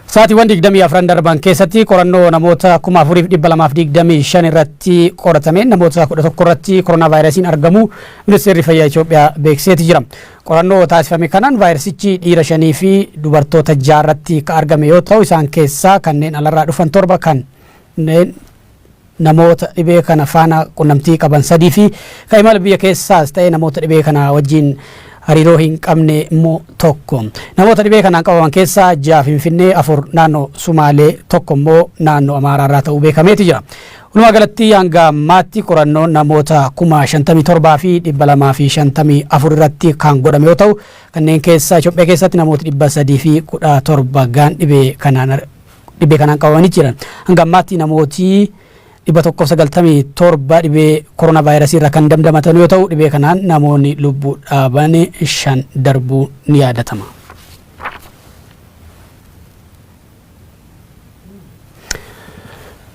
Sa'aatiiwwan 24 darban keessatti qorannoo namoota 4,225 irratti qoratameen namoota 11 irratti koronaa vaayirasiin argamu ministeerri fayyaa Itoophiyaa beeksiseeti jira. Qorannoo taasifame kanaan vaayirasichi dhiira shanii fi dubartoota jaarratti kan argame yoo ta'u isaan keessaa kanneen alarraa dhufan torba kanneen namoota dhibee kana faana qunnamtii qaban sadii fi kan imala biyya keessaas ta'ee namoota dhibee kanaa wajjin hariiroo hin qabne immoo tokko. Namoota dhibee kanaan qabaman keessaa ja'a Finfinnee, afur naannoo Sumaalee, tokko immoo naannoo Amaaraa irraa ta'uu beekameeti jira. Walumaa galatti hanga ammaatti qorannoo namoota kuma shantamii torbaa fi dhibba lamaa fi shantamii afur irratti kan godhame yoo ta'u kanneen keessaa Itoophiyaa keessatti namoota dhibba sadii fi kudha torba gahan dhibee kanaan Dhibee kanaan qabamanii jiran. Hanga ammaatti namooti 197 dhibee koronaavaayirasii irraa kan damdamatan yoo ta'u dhibee kanaan namoonni lubbuu dhaaban shan darbuu ni yaadatama.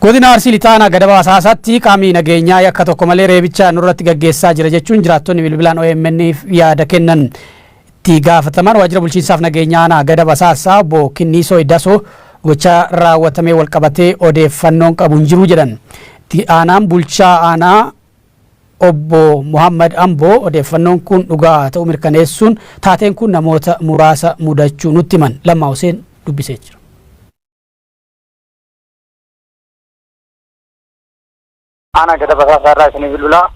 Godina Arsii Lixaa Aanaa Gadabaa Asaasaatti qaamni nageenyaa yakka tokko malee reebicha nurratti gaggeessaa jira jechuun jiraattonni bilbilaan OMN'f yaada kennan. Itti gaafatamaan waajjira bulchiinsaaf nageenyaa aanaa Gadab Asaassaa obbo Kinniisoo Iddasoo gocha raawwatamee walqabatee odeeffannoon qabu hin jiru jedhan. Itti aanaan bulchaa aanaa obbo Muhammad Amboo odeeffannoon kun dhugaa ta'uu mirkaneessuun taateen kun namoota muraasa mudachuu nutti himan. Lammaa Huseen dubbisee jira. Aanaa Gada Basaasaa irraa isinii bilbilaa.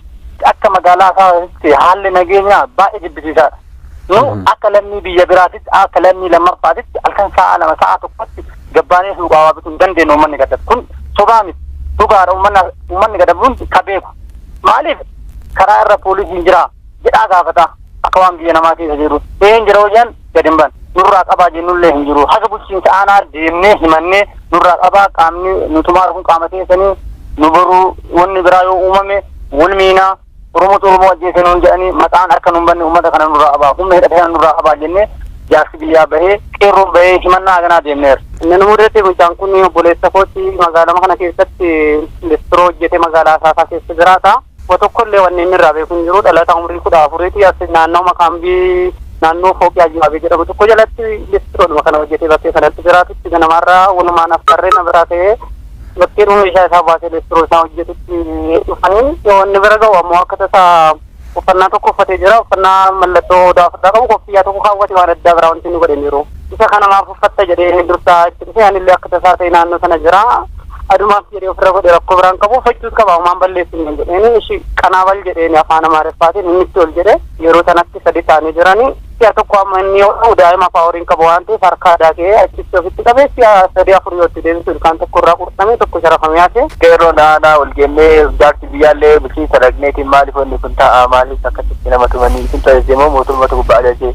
Akka magaalaa isaatti haalli nageenyaa baay'ee jibbisiisaadha. Nu akka lammii biyya biraatitti akka lammii lammaffaatitti halkan sa'a lama sa'a tokkotti gabbaanee suuqaa waa bituu hin dandeenye uummanni gadab. Kun sobaa miti. Dhugaadha uummanni gadab hundi ka beeku. Maaliif karaa irra poolisiin jira. jedhaa gaafata akka waan biyya namaa keessa jiru een jira hojan gad hin ban nurraa qabaa jennullee hin jiru haga bulchiinsa aanaa deemnee himannee nurraa qabaa qaamni nu tumaara kun qaama keessanii nu boruu wanni biraa yoo uumame wal miinaa oromoo oromoo ajjeesee nuun jedhanii maqaan akka nuun banne uummata kana nurraa qabaa humna hidhate kana nurraa qabaa jennee jaarsi biyyaa bahee qeerroon bahee himannaa haganaa deemneera. Inni mudate mucaan kun obboleessa kooti magaalama kana keessatti listiro hojjete magaalaa Asaasaa keessa jiraata. wa tokko illee wanni inni irraa beeku hin jiru. Dhalataa umrii 14 ti. As naannooma kaambii naannoo Fooqii Ayyu'aabii jedhamu tokko jalatti listiroodhuma kana hojjetee bakkee sanatti jiraatutti ganamaarraa walumaan affarree na biraa ka'ee bakkeedhuma meeshaa isaa baasee listiroo isaa hojjetutti dhufanii yoo inni bira ga'u ammoo akka tasaa uffannaa tokko uffatee jira. Uffannaa mallattoo odaa ofirraa qabu koffiyyaa tokko kaawwate waan addaa biraa wanti inni godhe hin jiru. Isa kana maaf uffatta jedhee inni dursaa itti dhufee anillee akka tasaa ta'e naannoo sana jira. Adumaaf jedhee ofirra godhe rakkoo biraan qabu uffachuus qaba homaan balleessu hin jedheeni ishi qanaabal jedheeni afaan amaariffaatiin inni itti ol jedhe yeroo sanatti sadi taanii jiranii si'a tokko amma inni yoo ta'u daa'ima afaa horiin qabu waan ta'eef harka aadaa ka'ee achitti ofitti qabee si'a sadii afur yoo itti deebisu ilkaan tokko irraa qurxamee tokko sharafamee hafe. Qeerroon aanaa ol geennee jaarsi biyyaallee bulchiinsa dhaqneetiin maaliif wanni kun ta'a maaliif akkasitti nama tumanii isin tajaajilmoo mootummaatu gubbaa ajajee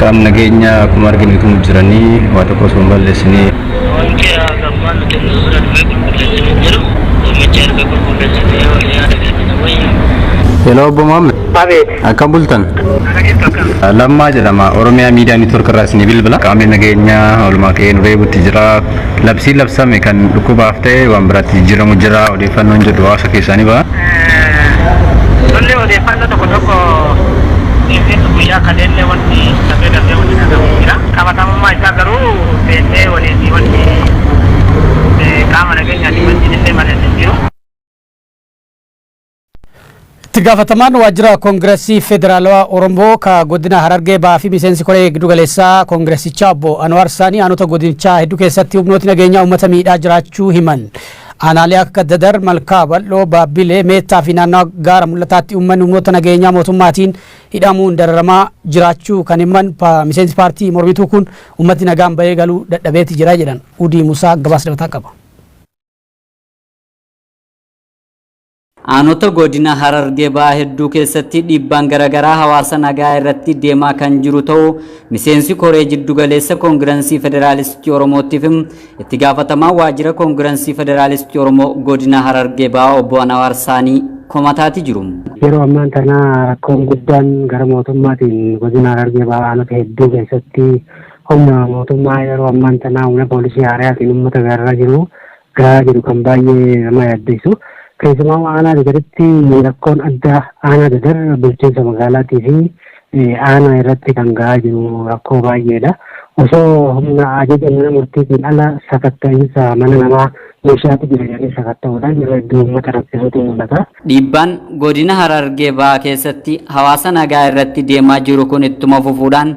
Qaam nageenyaa akkuma arginu tumuu jiranii waa tokko osoo hin balleessinee. Wanti hagafaa nuti nu bira dhufee qulqulleessinu hin jiru. Dhimmichi erga qulqulleessinee wal yaada kennina wayya. Hello Obbo Muhammad. Abeet. Akkam bultan? Ana jirtu akkam? Lammaa jedhama. Oromiyaa Miidiyaa Niitwork irraa isinii bilbila. Qaamni nageenyaa oolmaa qe'ee nu reebutti jira. Labsiin labsame kan dhukkubaaf ta'e waan biraatti jijjiiramu jira. Odeeffannoon jedhu hawaasa keessaa ni baha. Lolli odeeffannoo tokko tokko keessatti guyyaa kaleellee wanti darbee darbee wanti dhagahamu jira. Qabatamummaa isaa garuu beeknee waliin wanti qaama nageenyaatiin wajjin illee mari'anne hin jiru. Itti gaafatamaan waajjira Koongirasii Federaalawaa Oromoo ka godina Harargee Bahaa fi miseensi koree giddu galeessaa Koongirasichaa obbo Anwaar Saanii aanota godinichaa hedduu keessatti humnooti nageenyaa uummata miidhaa jiraachuu himan. Aanaalee akka Dadar, Malkaa Bal'oo, Baabbilee, Meettaa fi naannawa Gaara Mul'ataatti uummanni humnoota nageenyaa mootummaatiin hidhamuun dararamaa jiraachuu kan himan miseensi paartii mormituu kun uummatni nagaan bahee galuu dadhabeeti jira jedhan. Udii Musaa gabaasa dabalataa qaba. Aanota Godina Harargee Bahaa hedduu keessatti dhiibbaan garagaraa hawaasa nagaa irratti deemaa kan jiru ta'uu miseensi koree jiddu galeessa Koongiransii Federaalistii Oromootti fi itti gaafatamaa waajjira Koongiransii Federaalistii Oromoo Godina Harargee Bahaa obbo Anawaar Saanii komataati jiru. Yeroo ammaan tana rakkoon guddaan gara mootummaatiin godina Harargee Bahaa aanota hedduu keessatti humna mootummaa yeroo ammaan tana humna poolisii haaraatiin uummata gararraa jiru gahaa jiru kan baay'ee nama yaaddeessu. Keessumaa aanaa dadaritti rakkoon addaa aanaa dadar bulchiinsa magaalaatii fi aanaa irratti kan gahaa jiru rakkoo baay'eedha. Osoo humna ajaja mana murtiitiin ala sakatta'iinsa mana namaa meeshaatu jira jedhanii sakatta'uudhaan yeroo hedduu uummata rakkisuutu mul'ata. Dhiibbaan godina Harargee Bahaa keessatti hawaasa nagaa irratti deemaa jiru kun ittuma fufuudhaan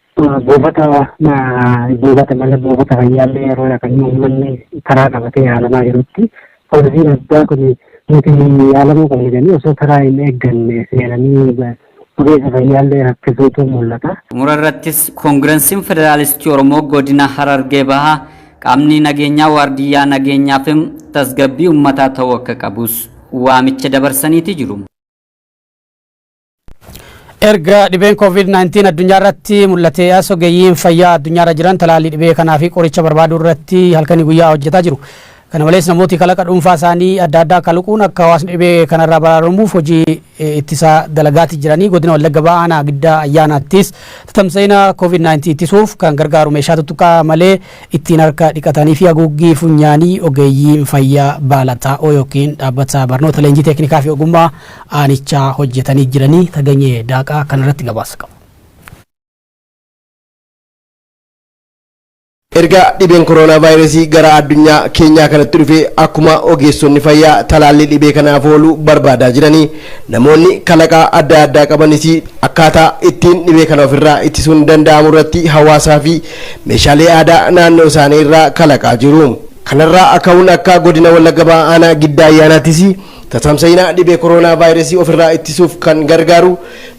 Buufata buufata mana buufata fayyaallee yeroo kan uummanni karaa qabatee yaalamaa jirutti poolisiin addaa kun nuti yaalamuu qabna jedhanii osoo karaa hin eegganne seenanii ogeessa fayyaallee rakkisuutu mul'ata. Xumura irrattis Koongiransiin Federaalistii Oromoo Godina Harargee Bahaa qaamni nageenyaa waardiyyaa nageenyaa fi tasgabbii uummataa ta'uu akka qabus waamicha dabarsaniiti jiru. Erga dhibeen COVID-19 addunyaa irratti mul'atee as ogeeyyiin fayyaa addunyaa irra jiran talaallii dhibee kanaa fi qoricha barbaaduu irratti halkanii guyyaa hojjetaa jiru. Kana malees namooti kalaqa dhuunfaa isaanii adda addaa kaluquun akka hawaasni dhibee kanarraa baraaramuuf hojii eh, ittisa dalagaati jiranii godina Wallagga Bahaa Aanaa Giddaa Ayyaanaattis tatamsa'ina COVID-19 ittisuuf kan gargaaru meeshaa tuttuqaa malee ittiin harka dhiqatanii fi haguuggii funyaanii ogeeyyiin fayyaa baala xaa'oo yookiin dhaabbata barnoota leenjii teeknikaa fi ogummaa aanichaa hojjetanii jiranii Taganyee Daaqaa kanarratti gabaasa qaba. Erga dhibeen koroonaa vaayirasii gara addunyaa keenyaa kanatti dhufe akkuma ogeessonni fayyaa talaallii dhibee kanaaf oolu barbaadaa jiranii namoonni kalaqaa adda addaa qabanis akkaataa ittiin dhibee kana ofirraa ittisuun danda'amu irratti hawaasaa fi meeshaalee aadaa naannoo isaanii irraa kalaqaa jiru. Kanarraa ka'uun akka godina Wallagga Bahaa aanaa Giddaa Ayyaanaattis tatamsa'ina dhibee koroonaa vaayirasii ofirraa ittisuuf kan gargaaru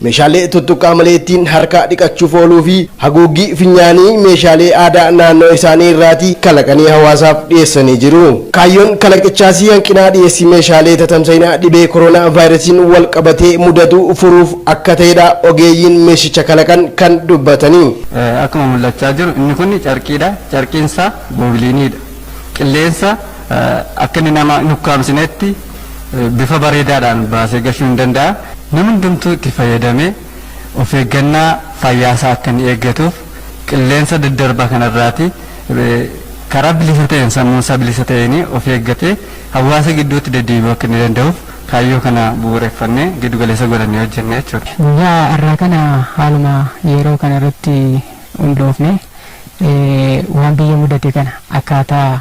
meeshaalee tuttuqqaa malee ittiin harka dhiqachuuf ooluu fi haguuggii finyaanii meeshaalee aadaa naannoo isaanii irraatii kalaqanii hawaasaaf dhiyeessanii jiru. Kaayyoon kalaqichaas hanqinaa dhiyeessii meeshaalee tatamsa'ina dhibee koroonaa vaayirasiin walqabatee mudatu furuuf akka ta'edha ogeeyyiin meeshicha kalaqan kan dubbatani. Akkuma mul'achaa jiru inni kun carqiidha. Carqiin isaa goobiliiniidha. Qilleensa akka inni nama hin ukkaamsinetti bifa bareedaadhaan baasee gashuu hin danda'a. Namni hundumtuu itti fayyadamee of eeggannaa fayyaa isaa akka inni eeggatuuf qilleensa daddarbaa kanarraati karaa bilisa ta'een sammuu isaa bilisa ta'een of eeggatee hawaasa gidduutti deddeebi'uu akka inni danda'uuf Kaayyoo kana bu'uureffannee giddu galeessa godhannee hojjenna jechuudha. Guyyaa har'aa kana haaluma yeroo kana irratti hundoofnee waan biyya mudate kana akkaataa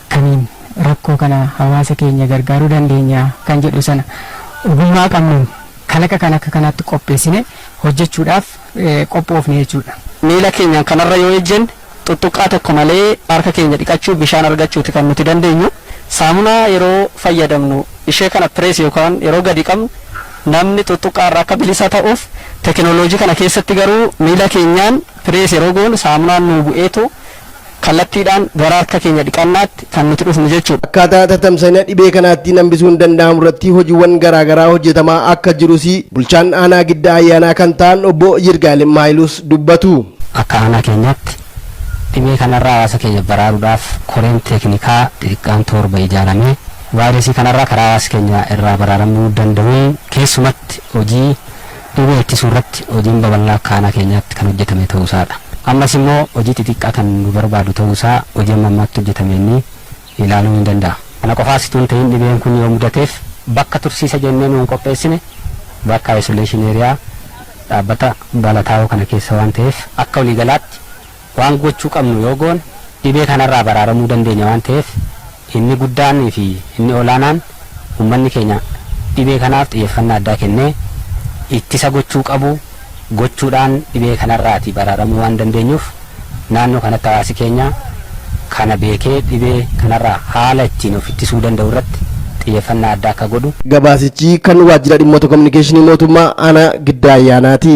kamiin rakkoo kana hawaasa keenya gargaaruu dandeenya kan jedhu sana ogummaa qabnuun kalaqa kana akka kanaatti qopheessinee hojjechuudhaaf qophoofne jechuudha. Miila keenyaan kanarra yoo ejjenne. Xuxxuqqaa tokko malee harka keenya dhiqachuu, bishaan argachuuti kan nuti dandeenyu. Saamunaa yeroo fayyadamnu ishee kana press yookaan yeroo gadi qabnu namni xuxxuqqaa irraa akka bilisa ta'uuf tekinooloojii kana keessatti garuu miila keenyaan press yeroo goonu saamunaan nuu bu'eetu kallattiidhaan gara harka keenya dhiqannaatti kan nuti dhufnu jechuudha. Akkaataa tatamsa'ina dhibee kanaattiin hambisuun danda'amu irratti hojiwwan garaa garaa hojjetamaa akka jirus bulchaan aanaa Giddaa Ayyaanaa kan ta'an obbo Yirgaalem Haayiluus dubbatu. Akka aanaa keenyaatti dhibee kanarraa hawaasa keenya baraaruudhaaf koreen teeknikaa xixiqqaan toorba ijaaramee vaayirasii kanarraa karaa hawaasi keenya irraa baraaramuu danda'uun keessumatti hojii Dhibee ittisuu irratti hojiin babal'aa akka aanaa keenyaatti kan hojjetame ta'uu isaa dha. Ammas immoo hojii xixiqqaa kan nu barbaadu ta'uu isaa hojii amma ammaatti hojjetameen ilaaluun ni danda'a. Kana qofaas utuu hin ta'iin dhibeen kun yoo mudateef bakka tursiisa jennee nu kan qopheessine bakka isolation area dhaabbata Balataawoo kana keessa waan ta'eef akka waliigalaatti, Waan gochuu qabnu yoo goone dhibee kanarraa baraaramuu dandeenya waan ta'eef inni guddaan fi inni olaanaan uummanni keenya dhibee kanaaf xiyyeeffannaa addaa kennee ittisa gochuu qabu gochuudhaan dhibee kanarraati baraaramuu waan dandeenyuuf naannoo kanatti hawaasi keenya kana beekee dhibee kanarraa haala ittiin of ittisuu danda'u irratti xiyyeeffannaa addaa akka godhu Gabaasichi kan Waajjira Dhimmoota Kominikeeshinii Mootummaa Aanaa Giddaa Ayyaanaati.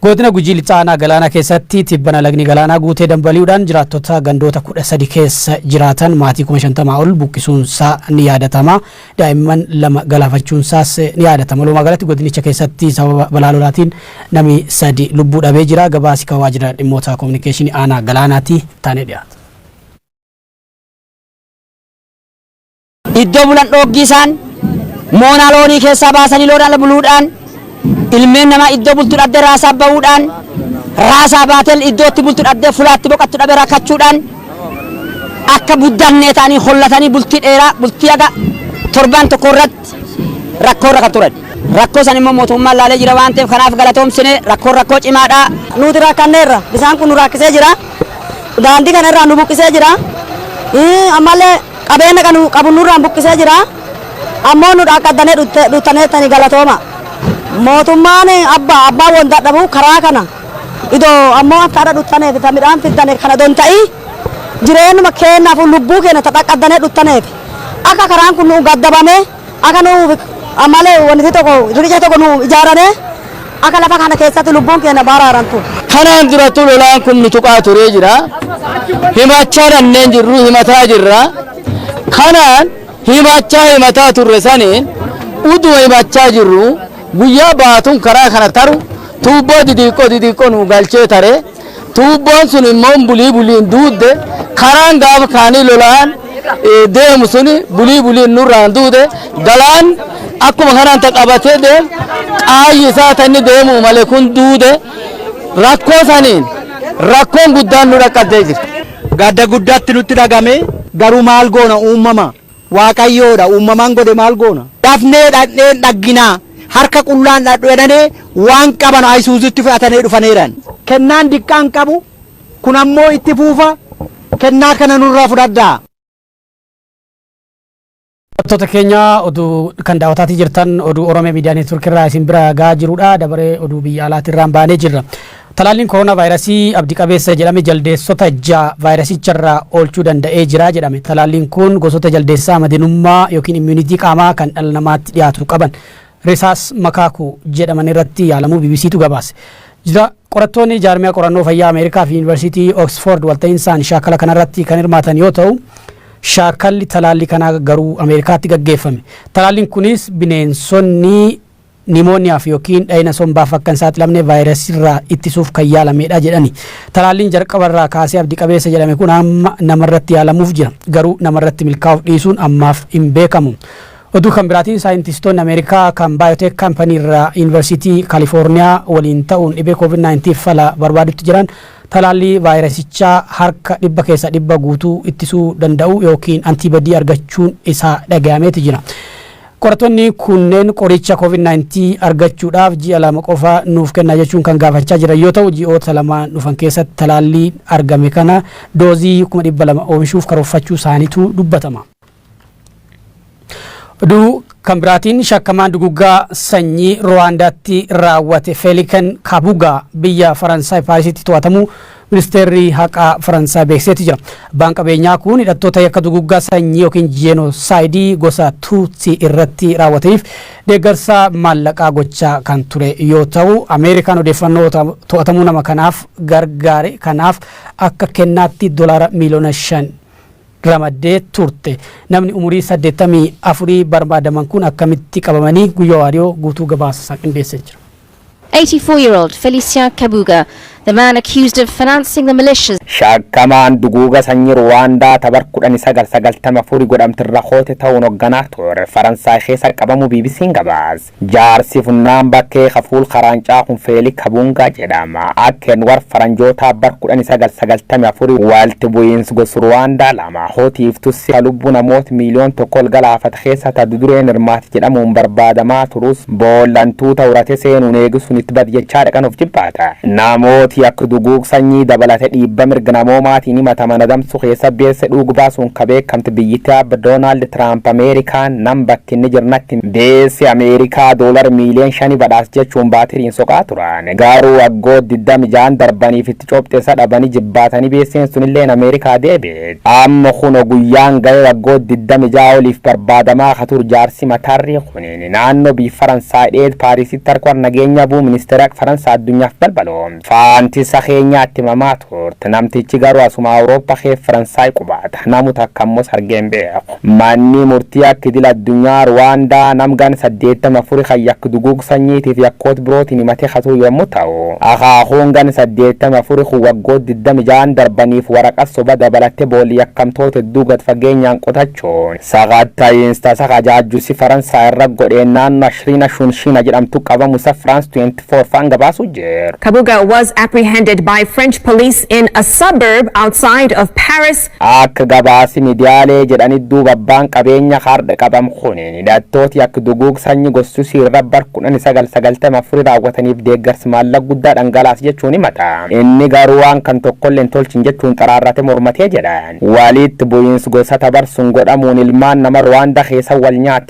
Godina Gujii Lixaa Aanaa Galaanaa keessatti tibbana lagni galaanaa guutee dambali'uudhaan jiraattota gandoota 13 keessa jiraatan maatii 50,000 ol buqqisuunsaa ni yaadatama. Daa'imman lama galaafachuunsaas ni yaadatama. Walumaa galatti godinicha keessatti sababa balaa lolaatiin namni sadi lubbuu dhabee jira. Gabaasi kan waajjira dhimmoota koominikeeshinii aanaa galaanaati taanee dhiyaata. Iddoo bulan dhooggii isaan moonaa loonii keessaa baasanii loon ala buluudhaan ilmeen namaa iddoo bultu dhabdee raasaa ba'uudhaan raasaa baateen iddootti bultu dhabdee fulaatti boqattu dhabee rakkachuudhaan akka buddannee ta'anii hollatanii bultii dheeraa bultii haga torbaan tokko irratti rakkoo irra kan turan. Rakkoo san immoo mootummaan laalee jira waan ta'eef kanaaf galatoomsine rakkoon rakkoo cimaadha. Nuti rakkanneerra bisaan kun nu rakkisee jira daandii kana irraa nu buqqisee jira ammallee Qabeenna qanu qabu nurraan buqqisee jira ammoo nu dhaaqqaddane dhuttaneettani galatooma. Mootummaan abba abbaa won dadhabu karaa kana ido ammoo akka adha dhuttaneefi ta midhaan fiddane kana don ta'i jireennuma keennaafu lubbuu keenna ta dhaqqaddane dhuttaneefi akka karaan kun nu'u gaddabame Akka nu ammalle woniti toko riqicha toko nu ijaarane, akka lafa kana keessatti lubbuun keenna baraarantu. Kanaan durattuu lolaan kun nu tuqaa turee jira. Himachaa dhanneen jirru himataa jirra. Kanaan himachaa himataa turre saniin uduma himachaa jirruu guyyaa baatuun karaa kana taru tuubboo didiiqqoo didiiqqoo nuu galchee tare. Tuubboon sun immoo bulii buliin duudde karaan gaafa kaanii lolaan deemu sun bulii buliin nurraan duude galaan akkuma kanaan ta qabatee deemu qaayyi isaa ta inni deemu malee kun duude rakkoo saniin rakkoon guddaan nu dhaqqabdee jirti. Gadda guddaatti nutti dhagame garuu maal goona uumama. Waaqayyoo dha, uumamaan godhe maal goona? Dafnee dhaqnee hin dhagginaa, harka qullaan dhadhu jedhanee waan qaban Ayisuuzuutti fe'atanee dhufaneeran. Kennaan diqqaa hin qabu, kun ammoo itti fuufa, kennaa kana nurraa fudhadhaa. Daawwattoota keenya oduu kan daawwataatii jirtan oduu Oromiyaa Miidiyaa Neetwoorkii irraa isin bira gahaa jirudha. Dabaree oduu biyya alaatii irraan baanee jirra. Talaalliin koronaavaayirasii abdi qabeessa jedhame jaldeessota ja'a vaayirasicharraa oolchuu danda'ee jira jedhame. Talaalliin kun gosoota jaldeessaa madinummaa yookiin immuuniti qaamaa kan dhala namaatti dhiyaatu qaban Risaas makaaku jedhaman irratti yaalamuu BBCtu gabaase. Jira qorattoonni jaarmiyaa qorannoo fayyaa Ameerikaa fi Yuunivarsiitii Oksfoord walta'insaan shaakala kanarratti kan hirmaatan yoo ta'u, shaakalli talaallii kanaa garuu Ameerikaatti gaggeeffame. Talaalliin kunis bineensonni Nimooniyaaf yookiin dhayina sombaaf akka hin saaxilamne vaayirasirraa ittisuuf kan yaalameedha jedhani. Talaalliin jalqabarraa kaasee abdi qabeessa jedhame kun amma namarratti yaalamuuf jira. Garuu namarratti milkaa'uuf dhiisuun ammaaf hin beekamu. Oduu kan biraatiin saayintistoonni Ameerikaa kan Biotech Company irraa Yuunivarsiitii Kaalifoorniyaa waliin ta'uun dhibee COVID-19 fala barbaadutti jiran talaallii vaayirasichaa harka dhibba keessa dhibba guutuu ittisuu danda'u yookiin antiibadii argachuun isaa dhagayameeti jira. Qorattoonni kunneen qoricha Covid 19 argachuudhaaf ji'a lama qofa nuuf kennaa jechuun kan gaafachaa jiran yoo ta'u, ji'oota lamaan dhufan keessatti talaallii argame kana doozii kuma 200 oomishuuf karoorfachuu isaaniitu dubbatama. Oduu kan biraatiin shakkamaan duguggaa sanyii Ruwaandaatti raawwate Feeliken Kabugaa biyya Faransaay Paarisitti to'atamuu Ministeerri haqaa Faransaay beeksiseeti jira. Abbaan qabeenyaa kun hidhattoota yakka duguggaa sanyii yookiin jeenoosaayidii gosa Tuutsii irratti raawwataniif deeggarsa maallaqaa gochaa kan ture yoo ta'u, Ameerikaan odeeffannoo to'atamuu nama kanaaf gargaare kanaaf akka kennaatti dolaara miiliyoona shan ramaddee turte. Namni umurii 84 barbaadaman kun akkamitti qabamanii guyyaa waariyoo guutuu gabaasa isaa qindeessee jira. Eighty four year old Felicien Kabuga, the man accused of financing the militias. Shakkamaan duguuga sanyi Ruwaandaa ta bar kudhanii sagal sagaltamii afuri godhamte irra koote ta'uun hogganaa ture Faransaay keessa qabamu BBCn gabaas. Jaarsi funnaan bakkee ka fuul karaancaa kun Feeli Kabungaa jedhama. Akka Enwar Faranjootaa bar kudhanii sagal sagaltamii afuri walti bu'iins gos Ruwaandaa lama. Amaahoo tiif tussia lubbuu namoot miiliyoon tokko ol galaafate keessa ta dudureen hirmaate jedhamuun barbaadamaa turus boolla antuuta urate seenuun eegi sun itt badi jechaa dhaqan of jibbaata. Namooti yakk duguug sanyii dabalate dhiibba mirga namoomaatiin himataman adamsu keessa beesse dhuug baasuun ka beekkamte biyyitti aabba Donald Trump Ameerikaan nam bakki inni jir natti him beesse Ameerikaa dollar miiliyoon shani badhaas jechuun baatiriin soqaa turan. Gaaruu waggoot 26n darbaniif itti copxe sa dhabani jibbaatani beesseen sunilleen America deebi'e. Amma kuno guyyaan ga'ee waggoot 26 oliif barbaadamaa ka tur jaarsi matarrii kuniin naanno biy Faransaay dheed Paarisitti arkwar nageenya buu ministeerak Faransaa addunyaf balbalo faantisa keenyaa itti himamaa turt. Namtichi garu asuma Awurooppa keef Faransaay qubaata. Namu takka ammos argeen beeku. Manni murtii yakka idil addunyaa Ruwaandaa nam ganna 84 kan yakka duguug sanyiitiif yakkoot birootiin himatee katuu yommu ta'u, akaakuun ganna 84 kun waggoot 26n darbaniif waraqat soba dabalatte boolli yakkamtoot hedduu gad fageenyaan qotachuun sakatta'iins tasa ka jaajjusi Faransaay irra godheen naanno Ashriina Shunshiina jedhamtu qabamu isa France 24 faan gabaasuu jir. Kabuga was apprehended by French police in a suburb outside of Paris Akka gabaasi midiyaalee jedhanit duuba abbaan qabeenya hardha qabam kuniin hidhattooti yak duguug sanyi gossusii irra bar 1994 raawwataniif deeggarsi maallaq guddaa dhangalaase jechuun himata. Inni garuu waan kan tokkolle hin tolchin jechuun xaraarrate mormate jedha. Waliitti bu'iins gosata bar sun godhamuun ilmaan nama Rwanda keesa wal nyaate.